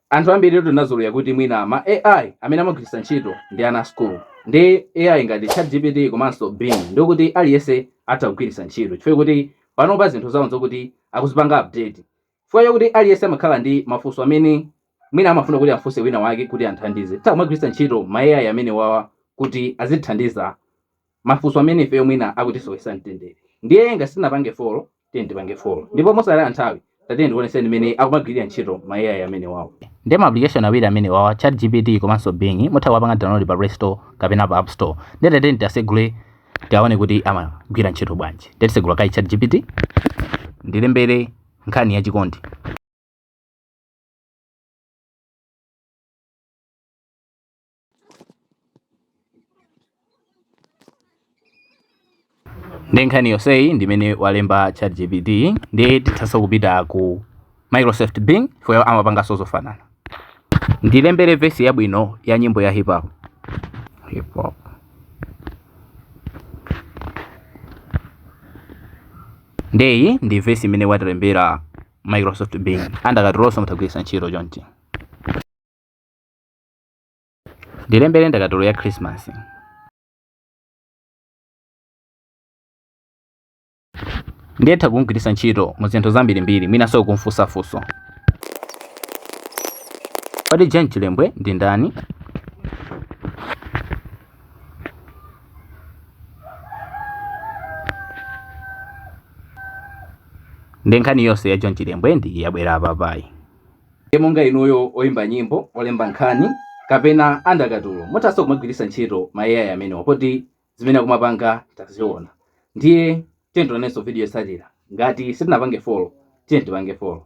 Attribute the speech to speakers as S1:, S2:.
S1: Anthu ambiritu tinazolowera kuti mwina ma AI amene amagwiritsa ntchito ndi ana a school ndi AI ngati chatgpt komanso Bing ndiokuti aliyense atha kugwiritsa ntchito chifukwa choti panopa zinthu zawo nzokuti akuzipanga update chifukwa chokuti aliyense amakhala ndi mafunso amene mwina amafuna kuti afunse wina wake kuti amthandize titha kumagwiritsa ntchito ma AI amenewawa kuti azitithandiza mafunso amene ifeyo mwina akutisowesa mtendere ndiye ngati sitinapange follow tiyeni tipange follow ndipo mosataya nthawi tatiyeni ndikuoneseni mmene akumagwirira ntchito ma AI amenewawo. Ndiye ma application awiri amenewawa ChatGPT komanso Bing mutha kuwapanga download pa play store kapena pa app store ndiye tatiyeni tiasegule tiaone kuti amagwira ntchito bwanji ndiye tisegula kaye ChatGPT ndilembere nkhani ya chikondi ndi nkhani yonseyi ndimene walemba chat gpt nde tithanso kupita ku microsoft bing nayo amapanganso zofanana ndilembere vesi yabwino ya nyimbo ya hip hop hip hop ndeyi ndi vesi imene watilembera microsoft bing a ndakatulonso mutha kugwiritsa ntchito chonchi Ndilembere ndakatulo ya Khrisimasi. Ndiye utha kum'gwiritsa ntchito mu zinthu zambirimbiri mwinanso kum'funsa funso. Kodi John Chilembwe ndi ndani? Nde nkhani yonse ya John Chilembwe nde yabwera apapayi. nde monga inuyo oyimba nyimbo olemba nkhani kapena a ndakatulo muthanso kumagwiritsa ntchito ma ai amenewa poti zimene akumapanga taziona ndiye tiyeni tionenso video yotsatira ngati sitinapange follow tiyeni tipange follow